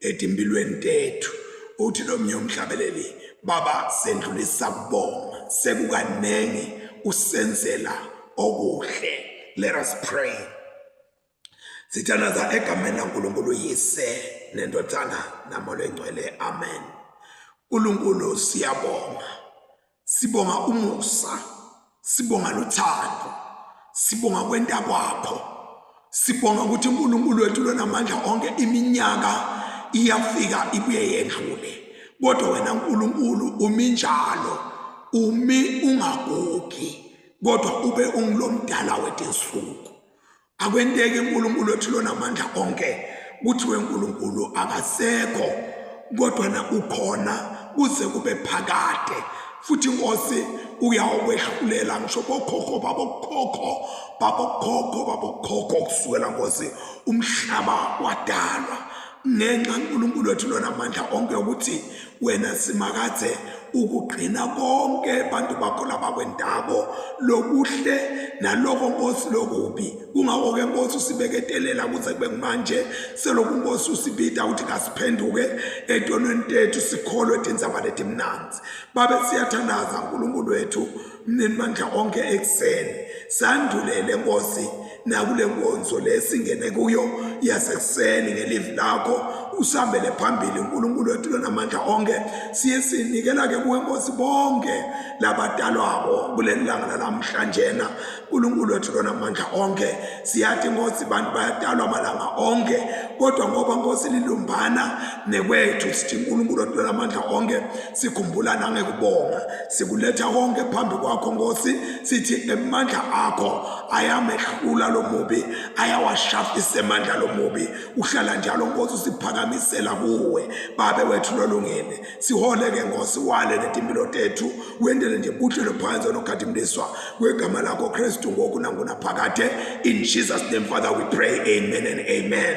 edimpilweni tethu uthi lo mnye umhlabeleli baba sendlulisa kubonga sekukaningi usenzela okuhle let us pray sithandaza egameni lankulunkulu yise nendodana namola engcwele amen nkulunkulu siyabonga Sibonga umusa, sibonga lothando, sibonga kwenta kwakho. Sibonga ukuthi uNkulunkulu wethu lonamandla onke iminyaka iyafika ibuye yedlule. Kodwa wena uNkulunkulu umi njalo, umi ungagugi, kodwa ube ungilomdala wetinsuku. akwenteki uNkulunkulu wethu lona amandla onke kuthiwe uNkulunkulu akasekho kodwa na ukhona kuze kube phakade futhi inkosi uyawukwehlulela ngisho bokhokho babokhokho babokhokho babokhokho kusukela nkosi umhlaba wadalwa ngenxa uNkulunkulu wethu lona amandla onke ukuthi wena simakathe ukugcina konke abantu bakho labakwendabo lokuhle naloko nkosi lokubi kungako ke nkosi usibeketelela kuze kube kumanje seloku nkosi usibida ukuthi kasiphenduke etonweni tethu sikholwe tindzaba letimnanzi babe siyathandaza uNkulunkulu wethu Mninimandla onke ekuseni sandulele Nkosi nakule nkonzo lesingene kuyo yasekuseni ngelivi lakho usambele phambili uNkulunkulu wethu lonamandla onke siye sinikela ke kuwe Nkosi bonke labadalwako kuleli langa lalamhlanjena uNkulunkulu wethu lonamandla onke siyathi Nkosi bantu bayadalwa amalanga onke kodwa ngoba Nkosi lilumbana nekwethu sithi uNkulunkulu wethu lonamandla onke sikhumbula nangekubonga Sikuletha konke phambi kwakho Nkosi sithi emandla akho ayamehlula lomubi ayawashafisa emandla lomubi uhlala njalo Nkosi usiphakamisela kuwe babe wethu lolungene sihole ke Nkosi wale netimpilo tethu wendele nje buhlelo phansi onokhathimliswa kwegama lakho Kristu ngoku nangunaphakade in Jesus name Father we pray amen and amen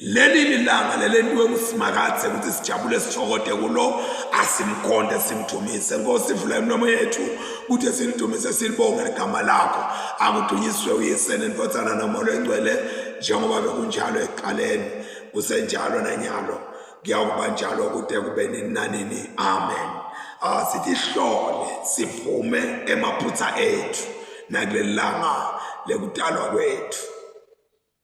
Leli lilanga lelentiwe kusimakathe ukuthi sijabule sithokote kulo asimkhonde simdumise nkosi vula imilomo yethu kuthi silidumise silibonge ligama lakho akudunyiswe uyise nendvodzana nomoya oyingcwele njengoba bekunjalo ekuqaleni kusenjalo nanyalo kuyakuba njalo kude kube nini nanini amen asithi hlole siphume emaphutha ethu nakulelanga lekudalwa kwethu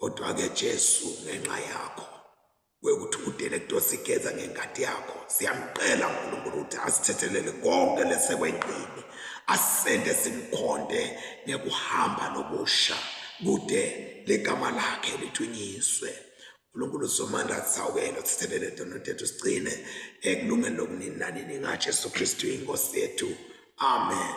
Kodwa ke Jesu ngenxa yakho kwekuthi udele kutosigeza ngengadi yakho siyamcela uNkulunkulu ukuthi asithethelele konke lesekwengqini asende simkhonde ngekuhamba nokusha kude legama lakhe lithunyiswe uNkulunkulu somandla sawukelo sithelele tono tethu sigcine ekulungeni lokunini nanini ngaJesu Kristu inkosi yethu amen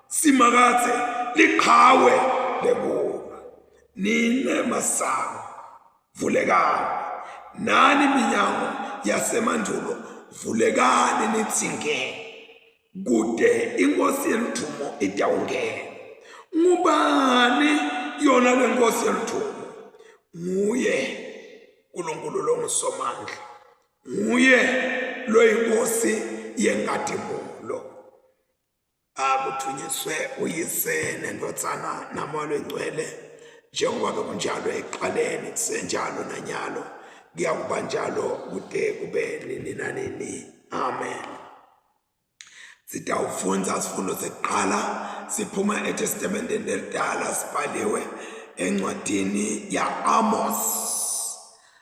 simakathe liqhawe lengoma nine masango vulekani nani minyango yasemandulo vulekani nithi ngeke kude inkosi yeluthumo itawungena ngubani yona lenkosi yeluthumo nguye uNkulunkulu longisomandla nguye loyinkosi yenkadimulo akuthunyiswe uyise nendodzana namoya lwengcwele njengoba bekunjalo ekuqaleni kusenjalo nanyalo kuyakuba njalo kude kube nini nanini amen sitawufundza sifundo sekuqala siphuma etestamenteni lelidala sibhaliwe encwadini ya-amos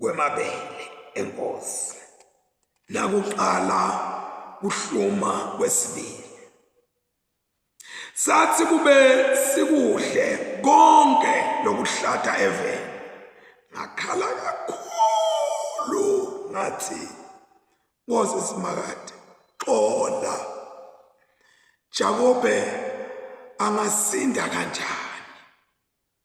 kwemabele enkosi nakuqala kuhluma kwesibili sathi kube sikuhle konke lokuhlata eveni ngakhala kakhulu ngathi ngoze simakade xola Jakobe angasinda kanjani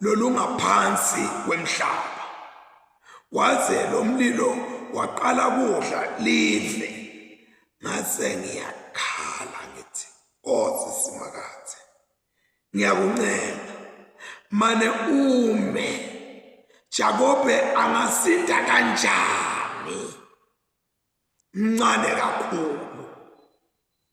lolungaphansi kwemhlaba kwaze lo mlilo waqala kudla live ngase ngiyakhala ngithi kodwa oh, simakathi ngiyakuncenga mane ume Jakobe angasinda kanjani mncane kakhulu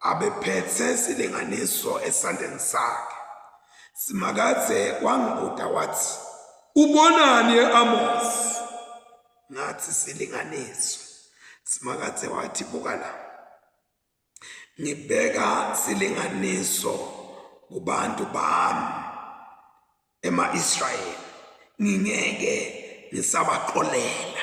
Abephethe isilinganiso esandleni sakhe. Simakadze wangibuta wathi, Ubonani e-Amosi? Ngathi, Isilinganiso. Simakadze wathi, Buka la. Ngibeka silinganiso kubantu bami ema-Israyeli. Ngingeke ngisabaqolela.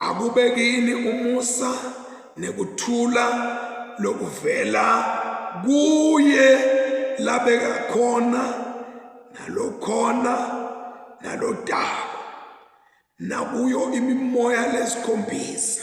Akube kini umusa nekuthula lokuvela kuye labeka khona nalokhona nalodako nakuyo imimoya lesikhombisa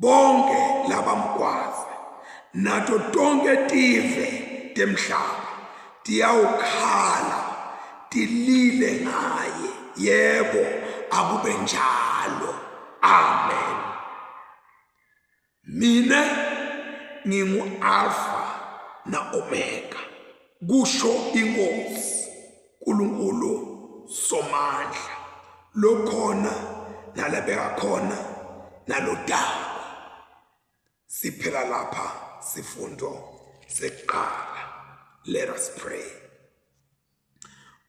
bonke laba mgwaze nato tonke tive temhlaba tiyawukhala tilile ngaye yebo akube njalo amen mina ngingu-alfa na-omega kusho inkosi Nkulunkulu somandla lokhona nalabeka khona nalodaba siphela lapha sifundo seqala let us pray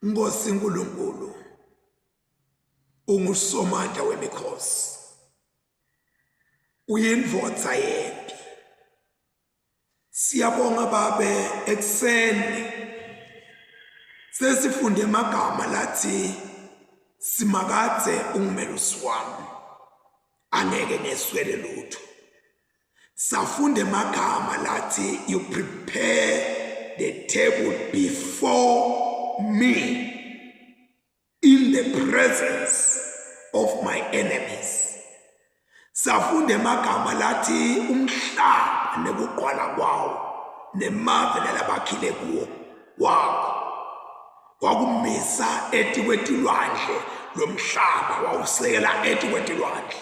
Nkosi Nkulunkulu ungusomandla wemikhosi uyindvodza yena Siyabonga babe ekseni sesifunde amagama lathi simakadze ungumelusi wami angeke ngeswele lutho safunde amagama lathi you prepare the table before me in the presence of my enemies safunda emagama lathi umhlaba nekuqwala kwawo nemave lalabakhile kuwo kwakho wakumisa etikwetilwandle lomhlaba wawusekela etikwetilwandle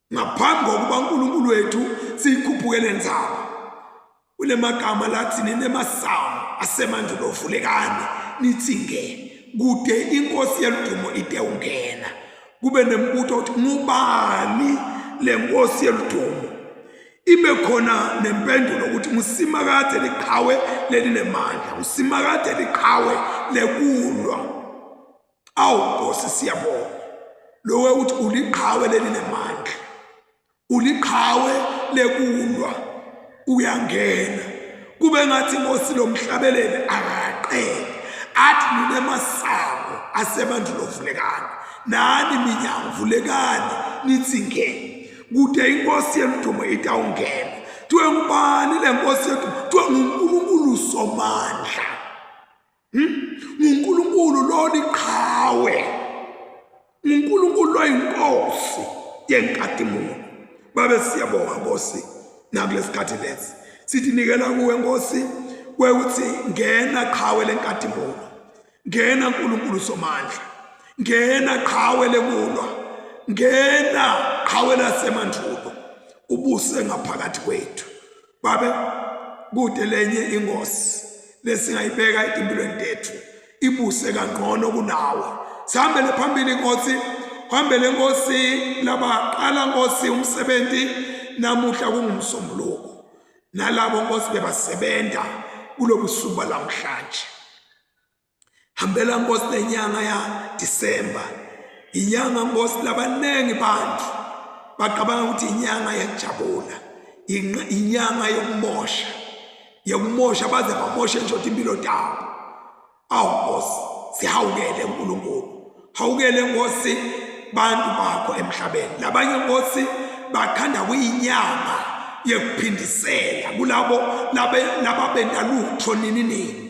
ngaphambi kokuba uNkulunkulu wethu siyikhuphuke lenzaba kunemagama lathi ninemasamu asemandulo vulekani nithi nge kude inkosi yeludumo ite ungena kube nembutho ukuthi ngubani lenkosi yeludumo ibe khona nempendulo ukuthi ngusimakade liqhawe lelinemandla ngusimakade liqhawe lekulwa awu nkosi siyabonga lowe uthi uliqhawe leli lemandla uliqhawe lekulwa uyangena kube ngathi inkosi lomhlabelele akaqele athi nine masango asebantu lovulekana nani minyango vulekani nithi ngene kude inkosi yemdumo itawungena kuthiwe ngubani le nkosi yethu kuthiwe ngunkulunkulu somandla Hmm? nguNkulunkulu lona iqhawe nguNkulunkulu loyinkosi yenkadimulo babe siyabonga nkosi nakulesikhathi lesi sithi nikela kuwe nkosi kwekuthi ngena qhawe lenkadimulo ngena uNkulunkulu somandla ngena qhawe lekulwa ngena qhawe lasemandvulo ubuse ngaphakathi kwethu babe kude lenye ingozi lesingayibeka etimpilweni tethu ibuse kangcono kunawe sihambele phambili nkosi hambele nkosi labaqala nkosi umsebenzi namuhla kungumsombuluko nalabo nkosi bebasebenza kulobusuku balamhlanje hambela nkosi lenyanga ya December inyanga nkosi labaningi bantu baqabanga ukuthi inyanga yajabula inyanga yokumosha yokumosha baze bamoshe nje impilo dawo awu nkosi sihawukele uNkulunkulu hawukele nkosi bantu bakho emhlabeni labanye nkosi bakhanda kuyinyanga yekuphindisela kulabo laba benda lutho nini nini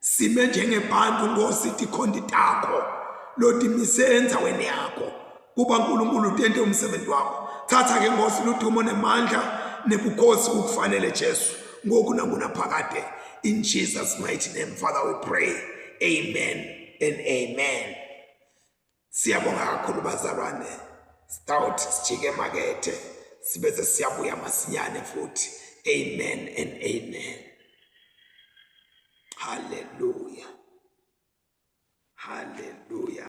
sime njengebantu nkosi tikhondi takho lotimise endzaweni yakho kuba nkulunkulu tente umsebenzi wakho thatha ke nkosi ludumo nemandla nebukhosi kukufanele jesu ngoku nangunaphakade in jesus mighty name father we pray amen and amen Siyabonga kakhulu bazalwane. Stout sijike emakethe sibe sesiyabuya masinyane futhi. Amen and amen. Hallelujah. Hallelujah.